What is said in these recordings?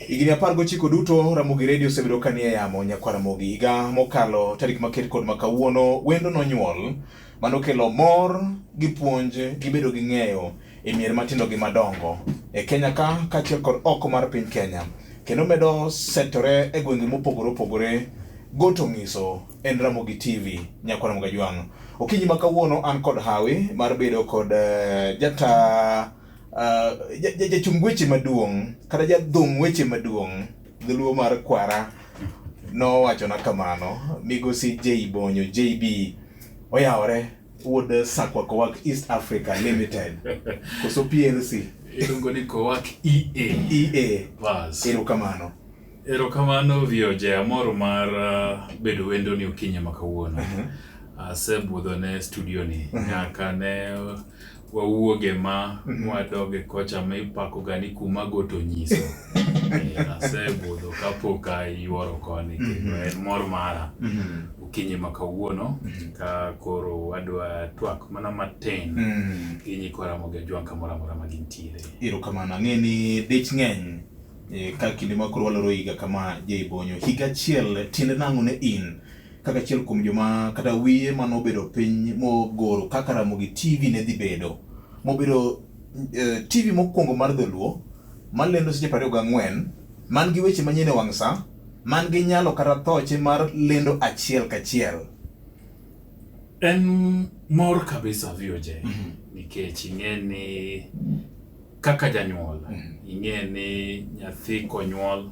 Higni apar gochiko duto Ramogi Redio osebedo ka nie yamo nyakwa Ramogi. Higa mokalo tarik maket kod makawuono wendo nonyuol manokelo mor gi puonj gi bedo gi ng'eyo e mier matindo gi madongo e Kenya ka kaachiel kod oko mar piny Kenya kendo medo setore e gwenge mopogore opogore goto ng'iso en Ramogi TV nyakwa Ramogi Ajwang'. Okinyi ma kawuono an kod hawi mar bedo kod uh, jata uh, jachung ja weche maduong' kata jadhung weche maduong' dholuo mar kwara nowachona kamano migosi J Bonyo JB oyawore wuod Sakwa Kowak East Africa Limited koso PLC iluongo ni Kowak EA EA erokamano Erokamano Vioje, amor mar bedo wendoni okinyi ma kawuono. Mhm. Asebudho ne studio ni mhm. nyaka ne wawuoge ma mhm. wadoge kocha ma ipako gani kuma goto nyiso. Eh, asebudho kapok ayuoro koni kendo en mor mara okinyi ma kawuono ka koro wadwa twak mana matin gi nyikwa Ramogi Ajwang' kamoro amora ma gintiere. Erokamano, ang'e ni dich ng'eny E, ka kinde ma koro waloro higa kama Jeibonyo, higa achiel tiende nang'o ne in kaka achiel kuom joma kata wiye mane obedo piny mogoro kaka Ramogi TV ne dhi bedo mobedo eh, TV mokwongo mar dholuo malendo seche piero ariyo gang'wen man gi weche manyien e wang' sa man gi nyalo kata thoche mar lendo achiel kachiel En mor kabisa VOJ nikech ing'e ni Kaka janyuol, mm-hmm. ing'e ni nyathi konyuol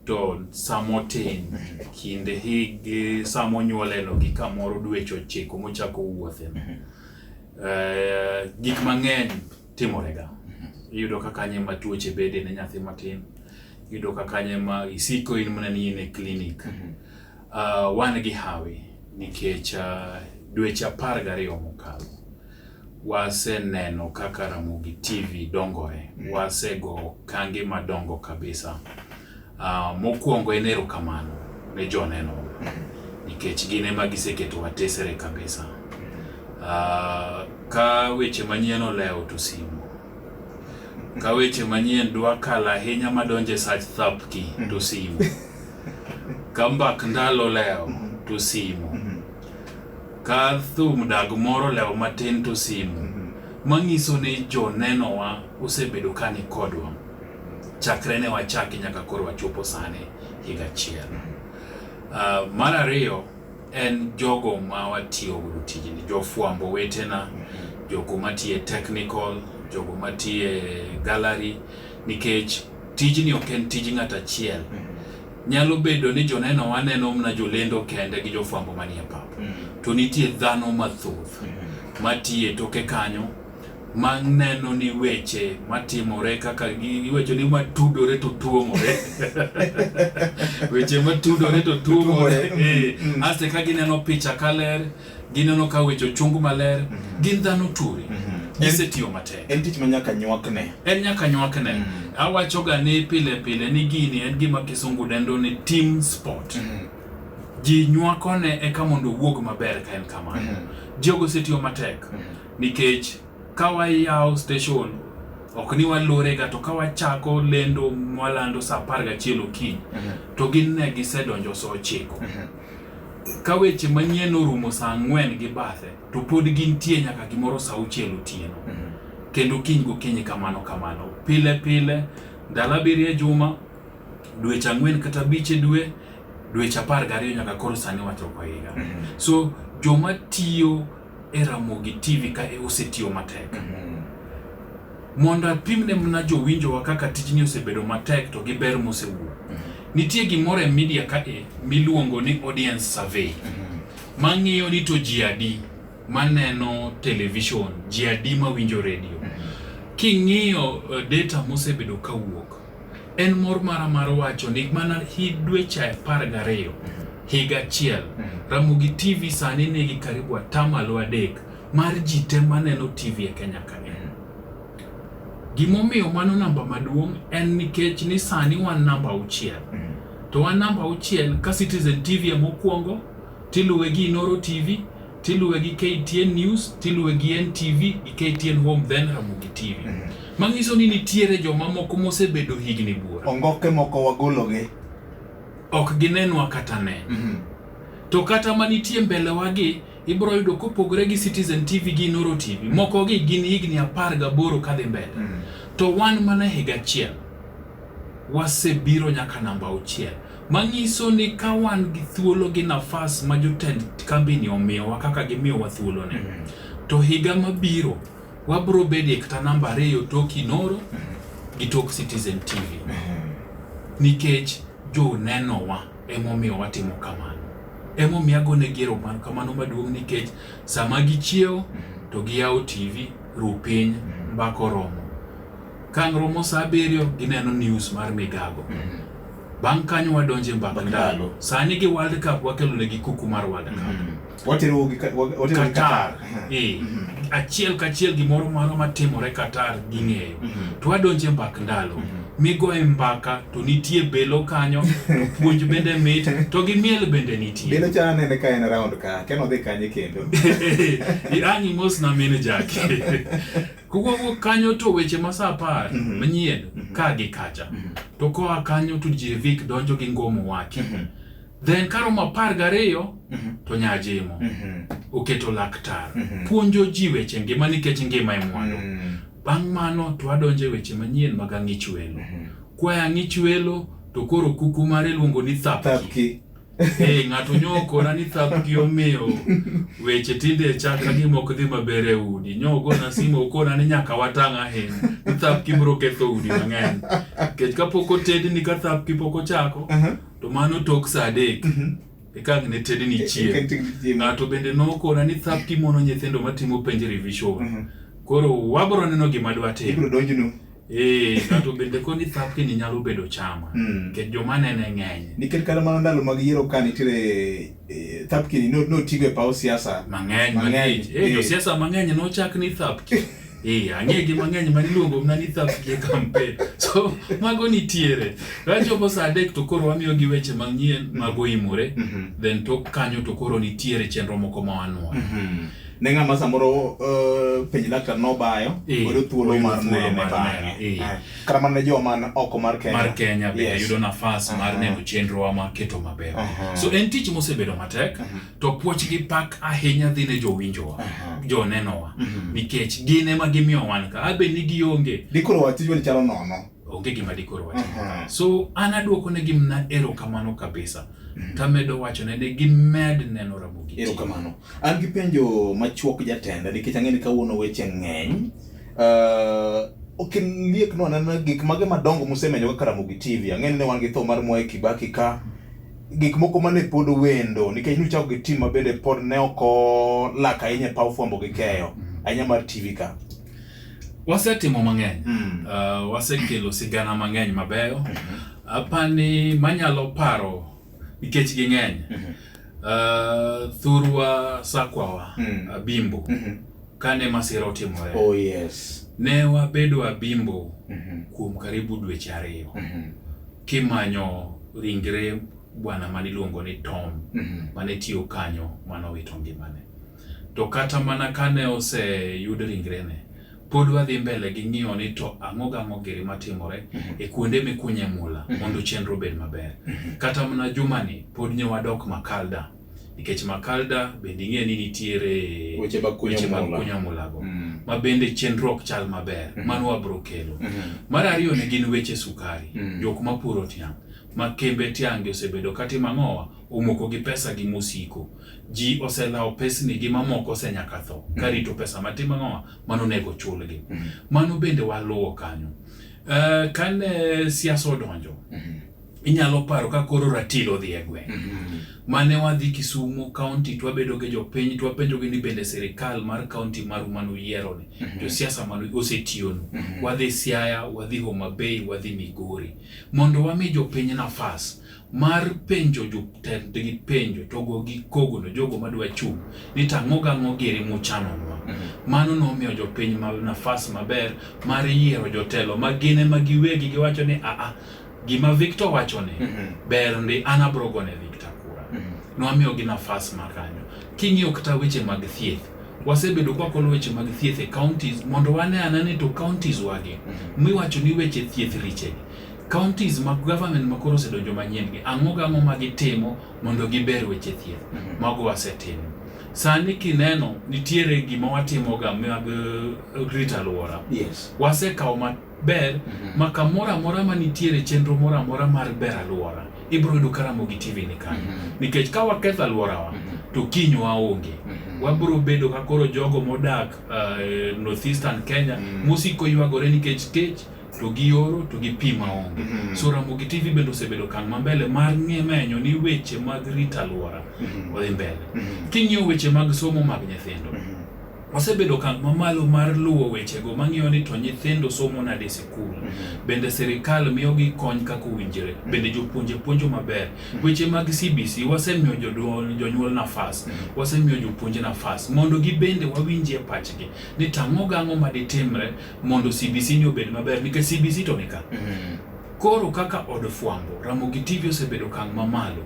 to samotin mm-hmm. kinde hig samonyuoleno gi kamoro dweche ochiko mochako wuothe. Mm-hmm. Eh, gik mang'eny timorega. Iyudo ka kanye ma tuoche bede ne nyathi matin. Iyudo ka kanye ma isiko in mana ni in e klinik. Eh, wan gi hawi nikech eh, dweche apar gariyo mokalo Waseneno kaka Ramogi TV dongore. Mm. Wasego kange madongo kabisa. Ah, mokwongo en erokamano ne joneno mm. nikech gin ema giseketo watesere kabisa. Ah, ka weche manyien olewo to simu ka weche manyien dwa kalo ahinya madonjo e sach thapki to simu ka mbak ndalo lewo to simu Ka thum dag moro lewo matin to simu, mhm. manyiso ni jonenowa osebedo ka ni kodwa chakre ne wachaki nyaka koro wachopo sani higa achiel. Uh, mar ariyo en jogo ma watiyo godo tijni, jofwambo wetena, mhm. jogo matiye technical, jogo matiye gallery, nikech tijni ok en tij ng'at achiel. Mhm. Nyalo bedo ni jonenowa neno mana jolendo kende gi jofwambo manie pap, mm. to nitie dhano mathoth mm-hmm. matiye toke kanyo ma neno ni weche matimore kaka giwacho ni matudore to tuomore weche matudore to tuomore mm-hmm. eh, mm-hmm. aste ka gineno picha kaler gineno ka weche ochung maler mhm. gin dhano turi mhm. gisetiyo matek en tich ma nyaka nywakne en nyaka nywakne mhm. awachoga ni pile pile ni gini en gima kisungu dendo ni team sport ji nywakone eka mondo owuog maber ka en kamano jogo osetiyo matek nikech ka wayawo station ok ni walorega to ka wachako lendo mwalando sa apar gachiel okinyi to gin ne gisedonjo sa ochiko Ka weche manyien orumo saa ang'wen gi bathe to pod gintie nyaka gimoro saa auchiel otieno mhm. kendo kiny gokinyi kamano kamano pile pile ndalo abiriyo e juma dweche ang'wen kata abich e dwe dweche apar gariyo nyaka koro sani wachoko higa mhm. so joma tiyo e Ramogi TV ka e osetiyo matek. Mm -hmm. Mondo apimne mna jowinjowa kaka tijni osebedo matek to gi ber mosewuok. Mm -hmm. Nitie gimoro e media ka e miluongo ni audience survey. Mm -hmm. Mang'iyo ni to ji adi maneno television, ji adi mawinjo redio. Mm -hmm. King'iyo uh, data mosebedo kawuok, En mor mara mar wacho ni mana hi dweche apar gariyo higa achiel Ramogi TV sani nigi karibu atamalo adek mar ji te maneno TV e Kenya ka en. Gimomiyo mano namba maduong' en nikech ni sani wan namba auchiel. To wan namba auchiel ka Citizen TV emokwongo, tiluwe gi Inoro TV, tiluwe gi KTN News, tiluwe gi NTV gi KTN Home then Ramogi TV. Mm -hmm. Manyiso ni nitiere joma moko mosebedo higni buora. Ongoke moko wagologi. Ok ginenwa kata ne. Mm -hmm. To kata ma nitie mbele wagi ibro yudo kopogore gi Citizen TV gi Noro TV. Mm -hmm. Moko gi gin higni apar gaboro kadhi mbele. Mm -hmm. To wan mana higa achiel. Wasebiro nyaka namba auchiel, manyiso ni ka wan gi thuolo gi nafas ma jotend kambini omiyowa kaka gimiyowa thuoloni, to higa mabiro wabiro bedie kata namba ariyo tok Inooro gi tok Citizen TV nikech jonenowa emomiyo watimo kamano. Emomiyo agonegi erokamano maduong' nikech sama gichiewo to giyawo TV, Ru Piny, Mbaka Oromo. Kang' romo saa abiriyo ineno news mar migago. Mhm. Bang' kanyo wadonje mbaka ndalo. Sani gi World Cup wakelo ne gi kuku mar World Cup. Mhm. Watero gi watero gi Qatar. Eh. Mhm. Achiel kachiel gimoro moro matimore Qatar ging'eyo. To wadonje mbak ndalo. Mm -hmm. migoye mbaka to nitie belo kanyo to puonj bende mit to gi miel bende nitie belo chana nene ka en round ka keno dhi kanye kendo ang'i mos na mine jake Kowuok kanyo to weche ma sa apar mm -hmm. manyien mm -hmm. ka gi kacha mm -hmm. to koa kanyo to Jevik donjo gi ngomo wake mm -hmm. then karomo apar gariyo mm -hmm. to Nyajimo mm -hmm. oketo laktar mm -hmm. puonjo ji weche ngima nikech ngima e mwandu mm -hmm. bang' mano to adonjo e weche manyien mag ang'ich welo mm -hmm. kwaya ang'ich welo to koro kuku mare luongo ni thapki, thapki. Hey, eh, ng'ato nyokona ni thapgi omiyo weche tinde chaka gi mok dhi maber e udi. Nyogona simu okona ni nyaka watang' ahinya. Ni thapgi biro ketho udi mang'eny. Nikech kapok otedni ka thapgi pok ochako, to mano tok sa adek. Mhm. Eka ne tedni e, chieng'. E, ng'ato bende nokona ni thapgi mono nyithindo matimo penj revision. Mhm. Koro wabiro neno gima dwatim. Eh, ng'ato bende koni thapki ni nyalo bedo chama mm. nikech joma nene ng'eny nikech kata mana ndalo mag yiero ka nitiere eh, thapki ni notigo e paw siasa mang'eny mang'eny eh, josiasa mang'eny nochak ni thapki Ee, ang'e gi mang'eny ma niluongo mana ni thapki e kampen so mago nitiere kachopo sa adek to koro wamiyo gi weche manyien mago imore mm-hmm. then tok kanyo to koro nitiere chenro moko ma wanwoyo mm-hmm. ne ng'ama samoro eh, penj laktar nobayo eh, oyudo thuolo mar nene bang'e eh. ah, kata mana ne joma oko mar Kenya mar Kenya bende yudo nafas ah. mar neno chenro wa maketo maber ah. so en tich mosebedo matek to puoch gi pak ahinya dhi ne jowinjowa jonenowa mhm. nikech gin ema gimiyo wan ka abe ni gionge dikoro wach tijwa ni chalo nono onge gima dikoro wach so an aduoko ne gimna erokamano kabisa mhm. tamedo wachone ne gimed neno Ramogi erokamano An gi penjo machuok jatenda nikech ang'e ni kawuono weche ng'eny. Uh, ok liek no anena gik mage madongo musemenyo kaka Ramogi TV. Ang'e ni ne wan gi tho mar Mwai Kibaki ka gik moko mane pod wendo nikech nuchako gi tim mabende pod ne ok olak ahinya e paw fwambo gi keyo ahinya mar TV ka. Wasetimo mang'eny. Mm. Uh, wasekelo sigana mang'eny mabeyo. Apani manyalo paro nikech ging'eny mm -hmm. uh, thurwa sakwawa mm -hmm. abimbo mm -hmm. kane masira otimore oh, yes. ne wabedo abimbo mm -hmm. kuom karibu dweche ariyo mm -hmm. kimanyo ringre bwana mane iluongo ni Tom mm -hmm. mane tiyo kanyo mane owito ngimane to kata mana kane oseyud ringrene Pod wadhi mbele gi ng'iyo ni to ang'o gang'o giri matimore mhm. e kuonde mikunye mula mhm. mondo chenro obed maber. Mhm. Kata mana jumani pod nyo wadok Makalda nikech Makalda bende ing'e ni nitiere weche mag kunyo mulago mm. ma bende chenro ok chal maber mano wabro kelo. Mar ariyo ne gin weche sukari mm. jok mapuro tiang' ma kembe tiange osebedo katimo ang'owa omoko gi pesa gi mosiko. Ji oselawo pesni gi mamoko ose nyaka tho mm. karito pesa matin mang'owa mano onego chulgi. Mm. Mano bende waluwo kanyo. Uh, kane siasa odonjo mm -hmm. inyalo paro ka koro ratilo odhi e gweng' mm -hmm. mane wadhi Kisumu kaunti to wabedo gi jopiny to wapenjogi ni bende sirikal mar kaunti maru mane uyieroni mm -hmm. josiasa mane osetiyonu mm -hmm. wadhi Siaya, wadhi Homa Bay, wadhi Migori mondo wami jopiny nafas mar penjo jotendgi penjo to go gi kogono jogo madwa chung' ni to ang'o gang'o giri muchanonwa mhm. mano nomiyo jopiny ma nafas maber mar yiero jotelo ma gin ema giwegi giwacho ni aa gima Victor wacho ni mhm. ber ndi an abro gone Victor kura mhm. nwamiyo gi nafas ma kanyo king'iyo kata weche mag thieth wasebedo kwa kolo weche mag thieth e counties mondo wane anane to counties wagi miwacho ni weche thieth richegi counties mag government ma koro osedonjo manyien gi ang'o gang'o ma gitimo mondo giber weche thieth mhm. mago wasetimo sani kineno nitiere gima watimoga mag eh, rito alwora yes. wasekawo maber mhm. ma kamoro amora ma nitiere chenro moro amora mar ber alwora ibiro yudo karamo gi tv ni kanyo mhm. nikech ka waketho alworawa to kiny waonge wabiro bedo ka koro jogo modak uh, northeastern kenya mosiko ywagore nikech kech to gi oro to gi pi maonge. Mm -hmm. So Ramogi TV bende osebedo kan ma mbele mar ng'e menyo ni weche mag rita alwora mm -hmm. odhi mbele. Mm -hmm. King'iyo weche mag somo mag nyithindo. Mm -hmm. Osebedo kan mamalo mar luwo wechego mang'iyo ni to nyithindo somo nade e sikul. Mm -hmm. Bende sirikal miyogi kony kaka owinjore. Mm -hmm. Bende jopuonje puonjo maber. Mm -hmm. Weche mag CBC wasemiyo jodwol jonyuol nafas. Mm -hmm. Wasemiyo jopuonje nafas mondo gibende wawinjie pachgi ni tang'o gang'o ma ditimre mondo CBC ni obed maber nikech CBC to nika. Mm -hmm. Koro kaka od fwambo Ramogi TV osebedo kang' mamalo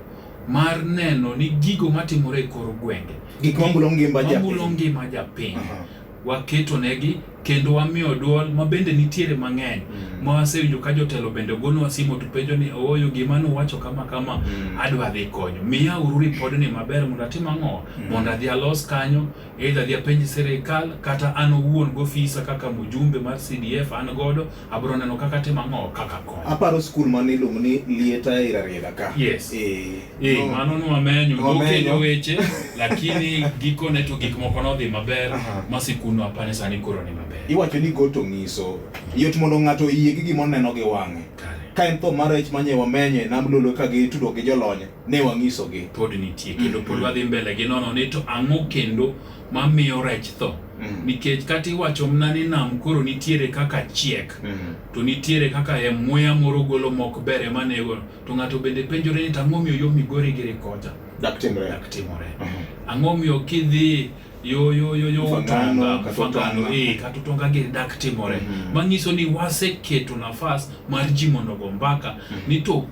mar neno ni gigo matimore e kor gwenge gik mamulo ngima japiny, mamulo ngima japiny. Uh -huh. waketo negi kendo wamiyo duol ma bende nitiere mang'eny mm. ma wasewinjo ka jotelo bende ogonwa simo to penjo ni ooyo gima nuwacho kama kama mm. adwa dhi konyo miya uru ripodni maber mondo atim ang'o mm. mondo adhi alos kanyo Either adhi apenj sirikal kata an owuon gofisa kaka mujumbe mar CDF an godo abro neno kaka timo ang'o kaka konyo. Aparo skul mane iluongo ni Lieta Irarieda ka. Yes. Eh, eh no. mano nwamenyo nokenyo weche lakini gikone to gik moko nodhi maber ma sikunwa apane sani koro ni maber. Iwacho ni goto ng'iso yot mondo ng'ato oyie gi gima oneno gi wang'e. Kare. Ka en tho mar rech manye wamenye nam lolo ka gitudo gi jolony ne wang'isogi. Pod nitie kendo pod wadhi mbele gi nono ni to ang'o kendo mamiyo rech tho. Mm. Nikech kata iwacho mna ni nam koro nitiere kaka chiek mm. to nitiere kaka e muya moro golo mok ber ema nego to ng'ato bende penjore ni tang'o miyo yo migori giri kocha. Dak timore. Dak timore. Mm -hmm. Ang'o miyo kidhi yo yo yo yo utonga kafagano e eh, kata utonga giri dak timore. Mm -hmm. Manyiso ni waseketo nafas mar ji mondo go mbaka mm -hmm. ni to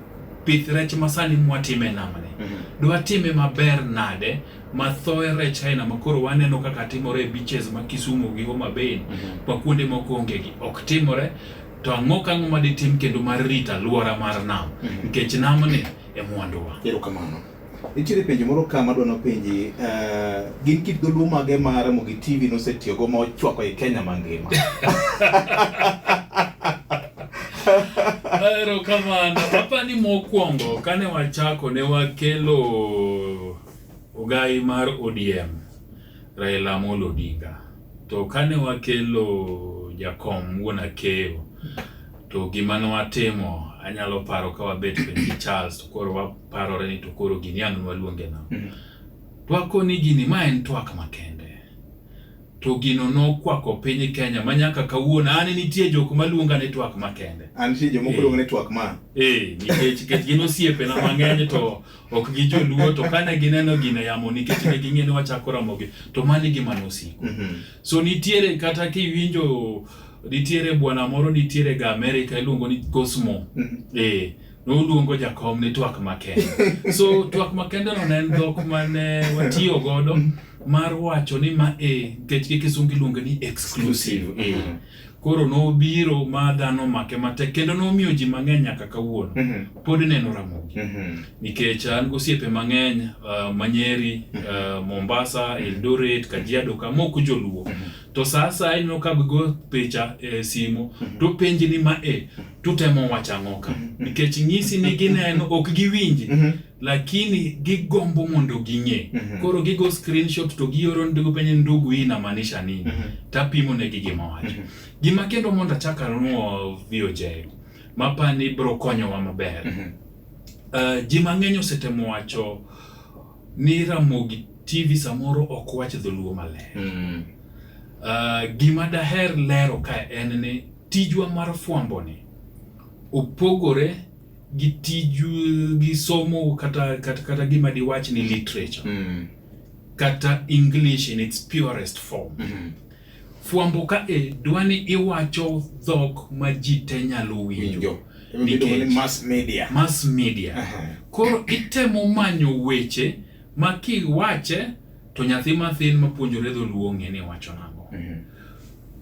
pith rech masani mwatime e namni mm -hmm. dwatime maber nade mathoe rech aina makoro waneno kaka timore e beaches ma Kisumu gi Homa Bay mm -hmm. kwa kuonde moko onge gi ok timore to ang'o ka ang'o maditim kendo mar rito aluora mar nam mhm. nikech mm -hmm. namni e mwanduwa. Erokamano. Nitiere penjo moro ka madwa nopenji, eh, gin kit dholuo mage ma Ramogi TV nosetiyogo ma ochwako e Kenya mangima? Erokamano. Apa ni mokwongo kane wachako ne wakelo ogai mar ODM Raila Amolo Odinga. To kane wakelo jakom wuon akeyo, to gima nwatimo anyalo paro ka wabet piny gi Charles to koro waparore ni to koro gini ang' nwaluonge nang'o. Mm. Twakoni gini ma en twak makende. To gino nokwako piny Kenya ma nyaka kawuono an nitie jok maluonga ni twak makende. An nitie jomoko Eh. luongo ni twak man. Eh, nikech nikech gin osiepena mang'eny to ok gi joluo to kane gineno gine yamo nikech ne ging'e ni wachako ramogi to mano e gima nosiko mhm. so nitiere kata kiwinjo nitiere bwana moro nitiere ga Amerika iluongo ni Cosmo mhm. eh noluongo jakom ni twak makende so twak makende no ne en dhok mane watiyo godo mhm. mar wacho ni ma e nikech gi kisungu iluonge ni exclusive, exclusive. E. Koro nobiro ma dhano omake matek kendo nomiyo ji mang'eny nyaka kawuono Mhm. pod neno Ramogi Mhm. nikech an gosiepe mang'eny uh, Manyeri, uh, Mombasa, Eldoret, Kajiado ka moko joluo to sa asaya ineno ka gigo picha e simo to penji ni ma e tutemo wacho ang'o ka nikech nyisi ni gineno ok giwinji Mhm. lakini gigombo mondo ging'e. mm -hmm. Koro gigo screenshot to gioro ndugu penye ndugu hii inamaanisha nini? mm -hmm. Tapimo negi gima wacho. mm -hmm. Gima kendo mondo achak anuo VOJ mapa ni bro konyowa maber. mm -hmm. Uh, eh, ji mang'eny osetemo wacho ni Ramogi TV samoro ok wach dholuo maler. mm -hmm. Uh, gima daher lero ka en ni tijwa mar fwambo ni opogore gi tiju gi somo kata kata, kata gima diwach ni literature mm. kata English in its purest form mm -hmm. fwambo ka e dwani iwacho dhok ma ji te nyalo winjo nikech mass media, mass media. Uh -huh. koro itemo manyo weche ma kiwache to nyathi mathin mapuonjore dholuo ng'e ni wacho nang'o mm -hmm.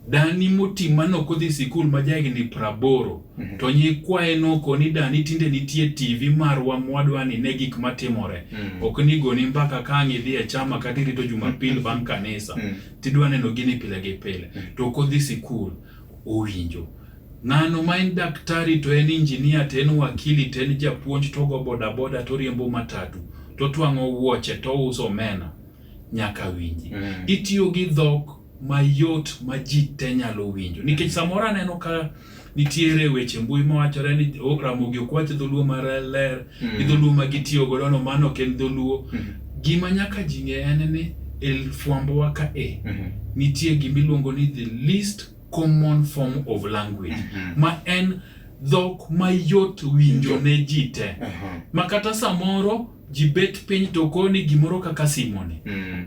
Dani moti mane ok odhi sikul ma jahigni praboro mm -hmm. to nyikwaye noko ni dani tinde nitie TV marwa mwadwa ni ne gik matimore mm -hmm. ok ni goni mbaka ka ang' idhi e chama kata irito jumapil mhm. bang' kanisa mm -hmm. tidwa neno gini pile gi pile mm -hmm. to ok odhi sikul owinjo ng'ano ma en daktari to en injinia to en wakili to en japuonj to ogo bodaboda to oriembo matatu to twang'o wuoche to ouso omena nyaka winji mm -hmm. itiyo gi dhok mayot ma ji te nyalo winjo nikech samoro aneno ka nitiere weche mbui mawachore ni o- ramogi ok wach dholuo mar ler Mm. gi dholuo ma gitiyo godo no mano ok en dholuo Mhm. gima nyaka ji ng'e en ni e fwambowa ka e Mhm. nitie gima iluongo ni the least common form of language Mhm. ma en dhok mayot winjo ne ji te Aha. ma kata samoro ji bet piny to koni gimoro kaka simoni Mm.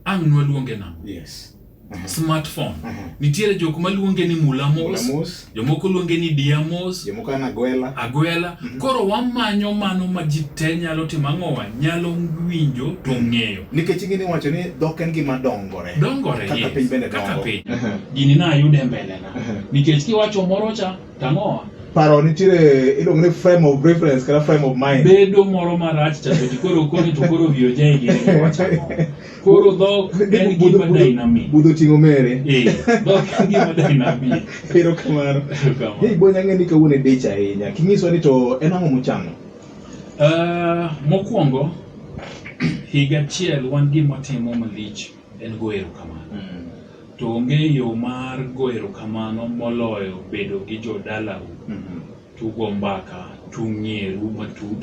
ang' nwaluonge nang'o yes. uh -huh. smartphone uh -huh. nitiere jok maluonge ni mulamos jomoko luonge ni diamos jomoko an agwela agwela uh mhm. -huh. koro wamanyo mano ma ji te nyalo timo ang'owa nyalo winjo to mhm. ng'eyo nikech ing'e ni wacho ni dhok en gima dongore dongore kaka yes. piny bende dongo kaka piny uh -huh. gini nayude mbelena uh -huh. nikech kiwacho moro cha Tamoa. Paro nitiere iluongo ni frame of reference kata frame of mind. Bedo moro marach cha to koro koni to koro wiyo jai gi wacha. Koro dhok en gima dynamic. Budho tingo mere. Eh, dhok en gima dynamic. Ero kamano. Hei bonya ng'e ni kawuono e dich ahinya. Kinyiswa ni to en ang'o muchano? Uh, mokwongo higa achiel wan gima timo malich en go erokamano. Mm. To onge yo mar go erokamano moloyo bedo gi jodalau, mm -hmm. tugo mbaka, tung'ieru matut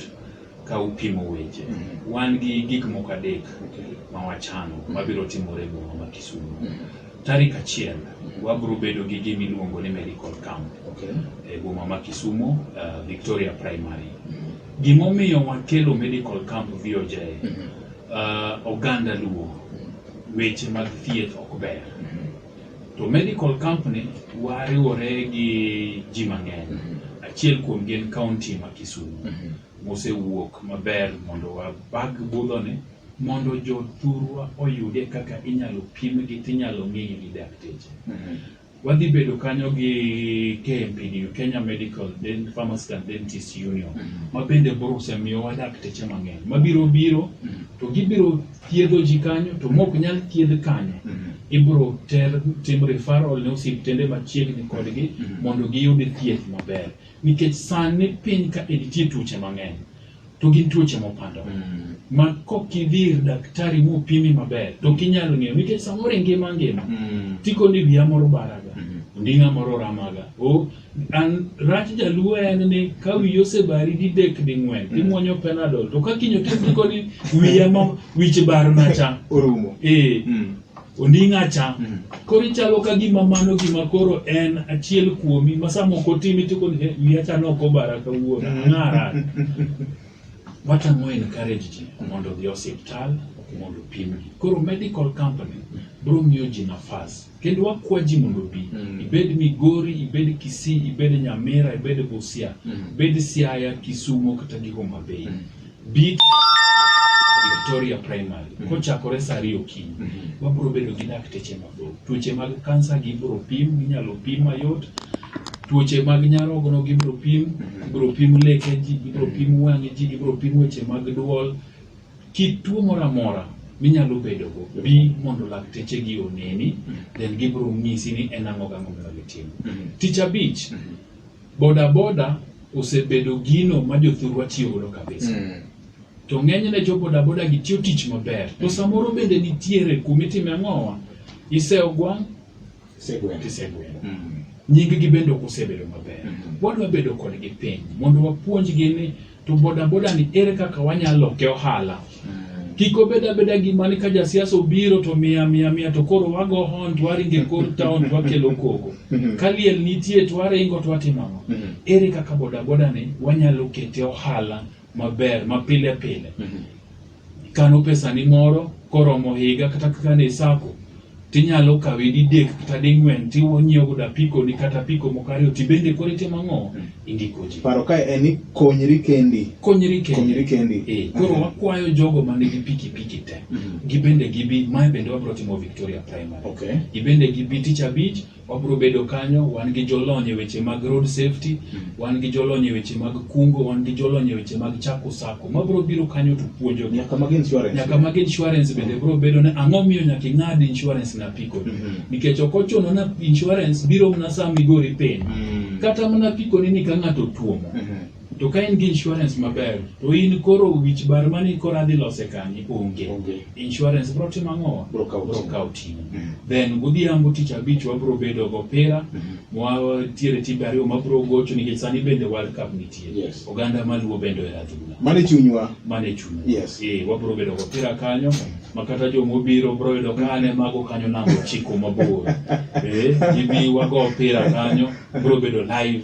ka upimo weche. Mm -hmm. Wan gi gik moko adek okay. ma wachano mm -hmm. mabiro timore boma ma Kisumu. Mm -hmm. Tarik achiel mm -hmm. wabiro bedo gi gima iluongo ni medical camp okay. e boma ma Kisumu, uh, Victoria Primary. Mm -hmm. Gimomiyo wakelo medical camp VOJ, uh, oganda Luo, weche mag thieth ok ber. To medical camp ni wariwore gi ji mang'eny. Achiel kuom gi en county ma Kisumu mosewuok maber mondo wabag budhoni mondo jothurwa oyude kaka inyalo pimgi tinyalo ng'egi gi dakteche. Wadhi bedo kanyo gi KMPDU, Kenya Medical Den- Pharmacist and Dentist Union, ma bende boruse miyowa dakteche mang'eny mabiro biro to gibiro thiedho ji kanyo to mok nyal thiedh kanyo ibiro ter tim referral ne osiptende machiegni kodgi mondo giyud thieth maber nikech sani piny ka nitie tuoche mang'eny to gin tuoche mopandore mm. ma kok idhi ir daktari mopimi maber to ok inyalo ng'eyo nikech samoro ngima ngima mm. tiko ni wiya moro baraga mm -hmm. onding'a moro ramaga o an rach jaluo en ni ka wiyi osebari didek ding'wen mm. imwonyo penadol to ka kinyo tiko ni wiya ma wich barna cha orumo ee mm. Onding'a cha. Mm. Koro ichalo ka gima mano gima koro en achiel kuomi ma sama ok otimi to koni "Eh, wiya cha nok obara kawuono ang'ara. What I'm more encouraged ji mondo odhi e osiptal mondo opimgi. Koro medical company biro miyo ji nafas kendo wakwa ji mondo obi. Mm. Ibed Migori, ibed Kisii, ibed Nyamira, ibed Busia, Mm. ibed Siaya, Kisumo kata gi Homa Bay. Mm. Bit Victoria Primary mm -hmm. kochakore saa ariyo okinyi mm -hmm. wabiro bedo gi dakteche mabor. Tuoche mag kansa gibiro pim, ginyalo pim mayot. Tuoche mag nyarogno gibiro pim, mhm. ibiro pim leke ji, ibiro mhm. pim wang'e ji, ibiro pim weche mag dwol. Kit tuo moro amora minyalo bedogo bi mondo lakteche gi oneni, mhm. then gibiro nyisi ni en ang'o gang'o monego itimo. Tich abich Boda boda osebedo gino ma jothurwa tiyo godo kabisa. Mm. To ng'enyne jo boda boda gi tiyo tich maber. To samoro bende nitiere kuma itime ang'owa, isewo gwang', Isegweno. isegweno. Mm. Nyinggi bende ok osebedo maber. Mhm. Wadwa bedo kodgi piny mondo wapuonjgi ni to bodaboda ni ere kaka wanyalo loke ohala mm. kik obed abeda gima ni ka jasiasa obiro to mia mia mia to koro wago hon to waringe kor town to wakelo koko mm-hmm. ka liel nitie to waringo to watimo ang'o mm-hmm. ere kaka bodaboda ni wanyalo kete ohala maber mapile pile mm-hmm. kano pesani moro koromo higa kata kikane e sako tinyalo kawe didek kata ding'wen tinyiewo godo apikoni kata apiko moko ariyo tibende koro itimo ang'o indiko ji paro kae en ni konyri kendi konyri kendi konyri kendi Eh, koro Aha. wakwayo jogo ma nigi pikipiki te Mhm. gibende gibi mae bende wabiro timo victoria primary okay gibende gibi tich abich wabiro bedo kanyo, wan gi jolony e weche mag road safety, hmm. wan gi jolony e weche mag kungo, wan gi jolony e weche mag chako sako. Ma biro biro kanyo to puonjo nyaka mag insurance. Nyaka mag insurance bende biro bedo ne ang'o miyo nyaka ing'ad insurance na piko. Mm -hmm. Nikech ok ochuno na insurance biro mana sama igori piny. Mm -hmm. Kata mana piko ni ka ng'ato tuomo. Mm -hmm. To ka in gi insurance maber, to in koro wich bar mani koro adhi lose kanyo onge. Onge. Insurance bro timo ang'o? Bro kawo Bro ting'o. kawo ting'o. Mm. Then godhiambo tich abich wabro bedo go opira, Mhm. watiere timbe ariyo mabro gocho nikech sani bende World Cup nitie. Yes. Oganda maluo bende ohero adhula. Mano e chunywa. Mano e chuny. Yes. Eh, wabro bedo go opira kanyo, ma kata joma obiro bro yudo ka ane mago kanyo namba ochiko mabor. Eh, gibi wago opira kanyo, bro bedo live.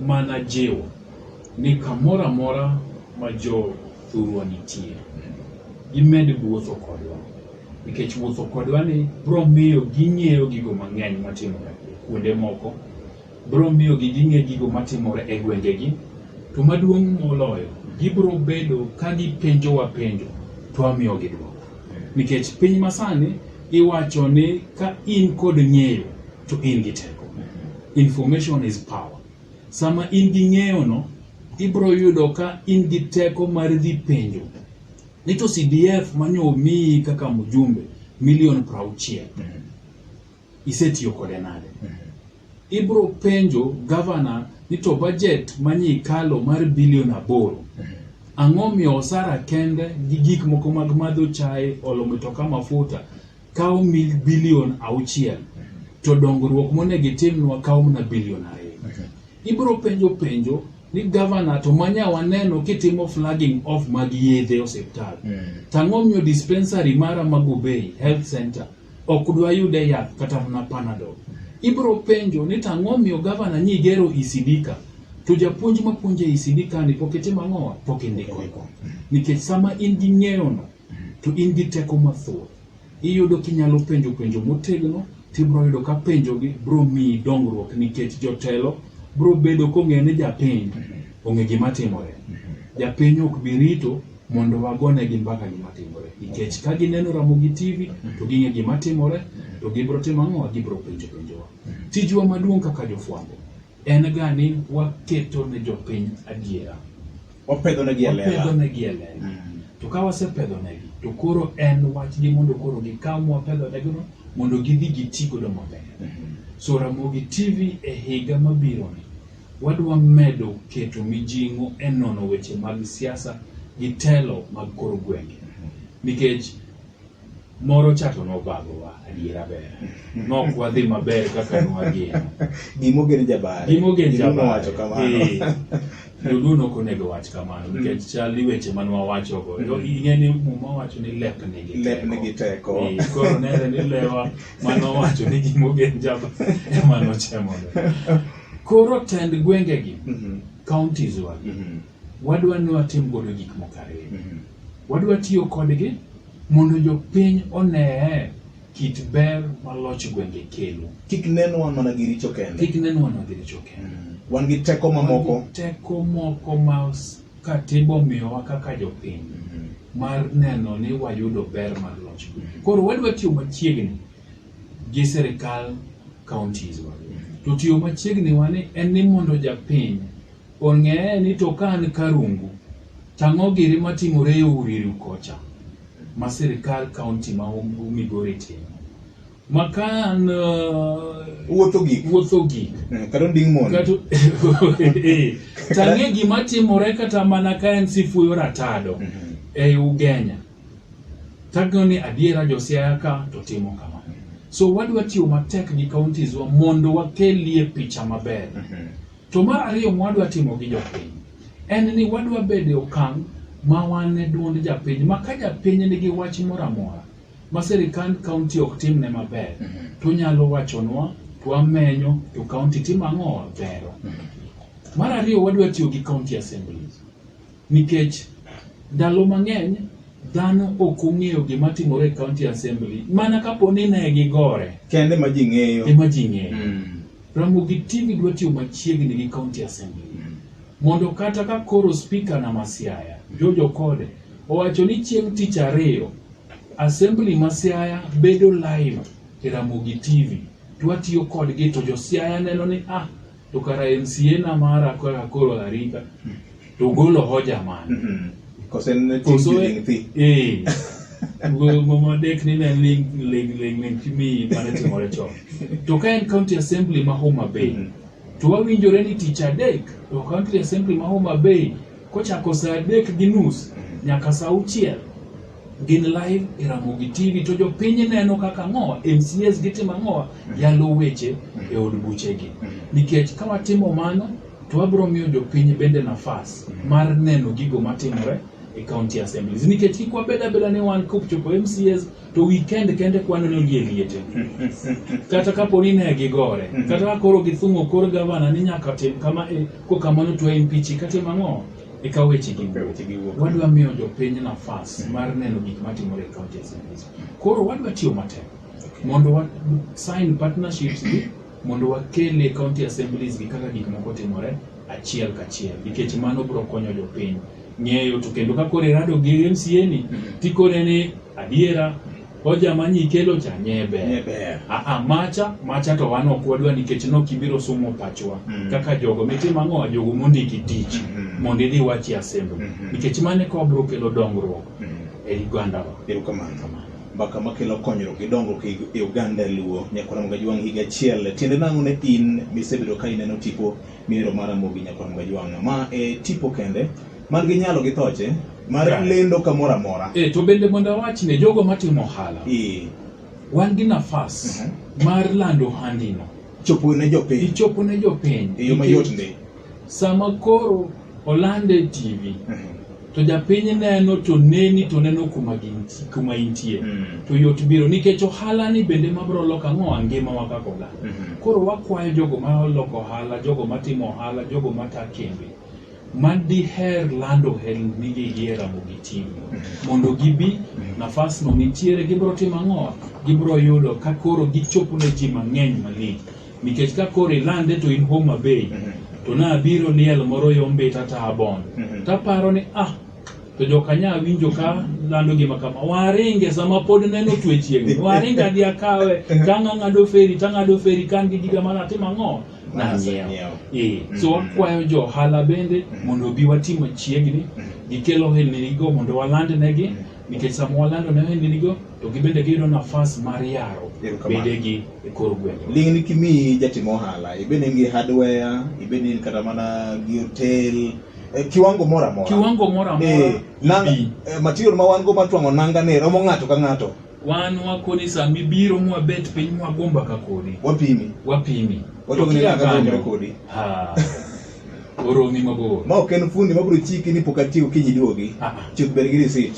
mana jiwo ni kamoro amora ma jo thurwa nitie, gimed wuotho kodwa, nikech wuotho kodwa ni biro miyo ging'eyo gigo mang'eny matimore kuonde moko, biro miyo gi ging'e gigo matimore e gwengegi, to maduong' moloyo, gibiro bedo ka gipenjowa penjo to wamiyogi dwoko, nikech piny masani Iwacho ni ka in kod ng'eyo to in gi teko. Information is power. Sama in gi ng'eyo no, ibro yudo ka in gi teko mar dhi penjo. Ni to CDF manyo omiyi kaka mjumbe milion prauchiel. Isetiyo kode nade? Ibro penjo gavana ni to bajet manyi kalo mar bilion aboro ang'o miyo osara kende gi gik moko mag madho chae olo mitoka mafuta kawo mil bilion auchiel to dongruok monego itimnwa kawo mana bilion ariyo ibro penjo penjo ni gavana to manya waneno kitimo flagging off mag yedhe e osiptal tang'o miyo dispensary mara ma Gubei health center Ok dwa yude yath kata mana panadol. Ibro penjo ni to ang'o miyo gavana nyi gero ECD ka? To japuonj ma puonjo ECD ka ni pok itimo ang'owa? Pok indiko. Nikech sama in gi ng'eyono to in gi teko mathoth. Iyudo kinyalo penjo penjo motegno tibro yudo ka penjogi bro miyi dongruok nikech jotelo bro bedo kong'eyo ni japiny ong'e gima timore. Japiny ok bi rito mondo wagone gi mbaka gima timore nikech ka gineno Ramogi TV to ging'e gima timore to gibro timo ang'o gibro penjo penjowa tijwa maduong' kaka jofwambo en ga ni waketo ne jopiny adiera wapedho ne gi e lela wapedho ne gi e lela mm. to ka wasepedho ne gi to koro en wach gi mondo koro gi ka mwa pedho ne gi mondo gidhi giti godo maber mm-hmm. so Ramogi TV e higa mabiro ni Wadwa medo keto mijing'o e nono weche mag siasa gi telo mag kor gwenge nikech moro chato nobagowa adiera ber nok wadhi maber kaka nwageno gimogen jabare gimogen jabawacho kamano joduo nok onego wach kamano mm. nikech chal ni weche man wawachogo mm. to ing'e ni muma wacho ni lep nigi lep nigi teko koro nere ni lewa manowacho ni gimogen jaba emanochemogo Koro tend gwengegi, mm -hmm. counties wa, mm -hmm. wadwa ni watim godo gik moko ariyo. Mm -hmm. Wadwa tiyo kodgi mondo jopiny onee kit ber ma loch gwenge kelo. Kik nenwa mana gi richo kende. Kik nenwa mana gi richo kende. Mm. Wan gi teko mamoko. Wan gi teko moko ma katiba omiyowa kaka jopiny mm -hmm. mar neno ni wayudo ber mar loch. Mm -hmm. Koro wadwa tiyo machiegni gi sirikal counties wa. To tiyo machiegni wa ni en ni mondo japiny ong'eye ni to ka an Karungu tang'o giri matimore e Uriru kocha ma sirikal county ma Migori timo makan uh, wuotho gik wuotho gik eh, kata nding mon kata eh, tang'e gima timore kata mana ka en sifuyo ratado mhm. e Ugenya Tagno ni adiera josiaya ka to timo kama. So wadwa tiyo matek gi counties wa mondo wakelie picha maber. Mhm. To mar ariyo mwadwa timo gi jopiny en ni wadwa bede okang' ma wan e duond japiny ma ka japiny nigi wach moro amora ma sirikand kaunti ok timne maber mhm. to nyalo wachonwa to wamenyo to kaunti timo ang'o wabero. Mhm. Mar ariyo wadwa tiyo gi county assemblies. Nikech ndalo mang'eny dhano ok ong'eyo gima timore e county assembly mana kapo ni ne gigore kende ma ji ng'eyo ema ji ng'eyo mm. Ramogi TV dwa tiyo machiegni gi county assembly mm. mondo kata ka koro speaker na Masiaya Jojo Kode owacho ni chieng' tich ariyo assembly ma Siaya bedo live e Ramogi TV twatiyo kodgi to jo Siaya neno ni ah to kara MCA na mara kaka koro arita to golo hoja man Mhm. Because en ne Koso tij e- ling thi. eh ngoma dek ni ne ling ling ling ling kimi mane timore chon to ka en county assembly ma Homa Bay Mhm. to wawinjore ni tich adek to county assembly ma Homa Bay kochako saa adek gi nus nyaka saa auchiel gin live e Ramogi TV to jopiny neno kaka ang'owa MCAs gitimo ang'owa mm-hmm. yalo weche mm-hmm. e od buchegi mm-hmm. nikech ka watimo mano to wabiro miyo jopiny bende nafas mar neno gigo matimore e county assemblies nikech kik wabed abeda ni wan kopchopo MCAs to weekend kende kwaneno gie liete kata kapo ni ne gigore kata ka koro githung'o kor gavana ni nyaka tim kama e kokamano to impichi katim ang'o E ka weche gi wuok, wadwa miyo jopiny nafas mar neno gik matimore e kaunti ya Samburu. Koro wadwa tiyo matek mondo wa sign partnerships gi mondo wakel e county assemblies gi kaka gik moko timore achiel kachiel nikech mano biro konyo jopiny ng'eyo to kendo ka koro irado gi MCA ni mm-hmm. tikone ni adiera Hoja ma nyikelo cha nye ber. Nye ber. A, a macha, macha to wan ok wadwa nikech nok ibiro somo pachwa. Mm. Kaka jogo mitimo ang'o jogo mondiki tich mm -hmm. mondo idhi wach e asembo. Mm -hmm. Nikech mane ka obro kelo dongruok mm -hmm. e Uganda wa. Erokamano. Kamano. Mbaka makelo konyruok gi dongruok e, e Uganda luo nyakora Mgajwang' higa achiel. Tiende nang'o ne in misebedo ka ineno tipo mihero mar Amogi nyakora Mgajwang'. Ma e tipo kende man gi nyalo gi thoche mar Right. lendo kamoro amora e to bende mondo awach ne jogo matimo ohala Eh, wan gi nafas Mhm. mar lando handino chopo ne jopiny ichopo ne jopiny e yo mayot ndi sama koro olande e tv Mhm. to japiny neno to neni to neno kuma ginti- kuma intie Mm. to yot biro nikech ohala ni bende mabiro loko ang'o angima wa kaka oganda Mhm. koro wakwayo jogo maloko ohala jogo matimo ohala jogo mata kembe ma diher lando helnigi gi e Ramogi TV mondo gibi nafasno nitiere gibiro timo ang'o? Gibiro yudo ka koro gichopo ne ji mang'eny malich nikech ka koro ilande to in Homa Bay to nabiro liel moro yombita ta abon mhm. taparo ni ah to jokanya winjo ka lando gima kama waringe sama pod neno twe chiegni waringa gi akawe tang'ang'ado feri tang'ado feri kan gi giga mana timo ang'o nang'iewo eh, so mm. wakwayo jo ohala bende mm. mondo obi wati machiegni mm. gikel ohelninigo mondo walandnegi nikech sama walando ne ohelninigo to gibende giyudo nafas mar yaro bedegi e kor gwenge ling' ni kimi jatim ohala ibed ni gi hardware ibed ni kata mana gi hotel eh, kiwango moro amora kiwango moro amora eh, eh, material ma wan go matwang'o nanga ne romo ng'ato ka ng'ato Wan wakoni sa mibiro mwabet piny mwagomba ka kodi. Wapimi. Wapimi. Watoki ni akadonjre kodi. Ha. Oromi mabor. Ma ok en fundi mabiro chiki ni pok atiyo kinyi duogi. Ah, ah. Chuth ber gi receipt.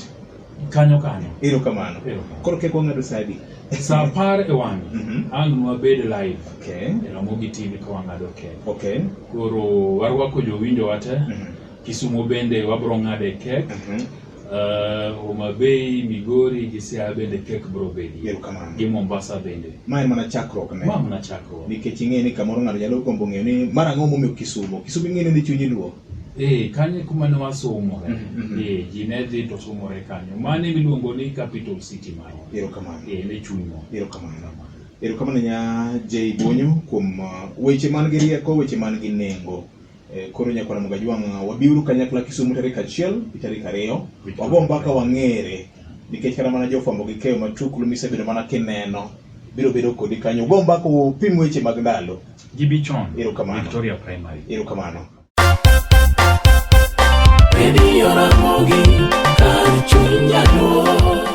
Kanyo kanyo. Ero kamano. Ero kamano. Koro kek wang'ado sadi. Sa apar e wang'e. Mm -hmm. Ang' nwabed live. Okay. E Ramogi TV ka wang'ado kek. Okay. Koro warwako jowinjo wate. Mm -hmm. Kisumo bende wabro ng'ade kek. Mm -hmm. Uh, Homa Bay, Migori gi Siaya bende kek bro bedie Erokamano. gi Mombasa bende Ma en mana chakruok ne. ma mana chakruok Nikech ing'e ni kamoro ng'ato nyalo gombo ng'eyo ni mar ang'o momiyo Kisumo. Kisumo ing'e ni ni chunyi luo. eh kanyo kuma ne wasomore Mhm, mhm. eh ji ne dhi to somore kanyo mane miluongo ni capital city marwa Erokamano. eh ne chunywa Erokamano. Erokamano nya J Bonyo kuom uh, weche man gi rieko, weche man gi nengo. Eh, koro nyakwara Mugaji wang'a wabiuru kanyakla Kisumu tarik achiel gi tarik ariyo wago mbaka wang'ere nikech kata mana jofwambo gi keyo matuklu misebedo mana kineno biro bedo kodi kanyo ugo mbaka upim weche mag ndalo Gibichon, Erokamano. Victoria Primary. erokamano Redio Ramogi, kar chuny nyaluo.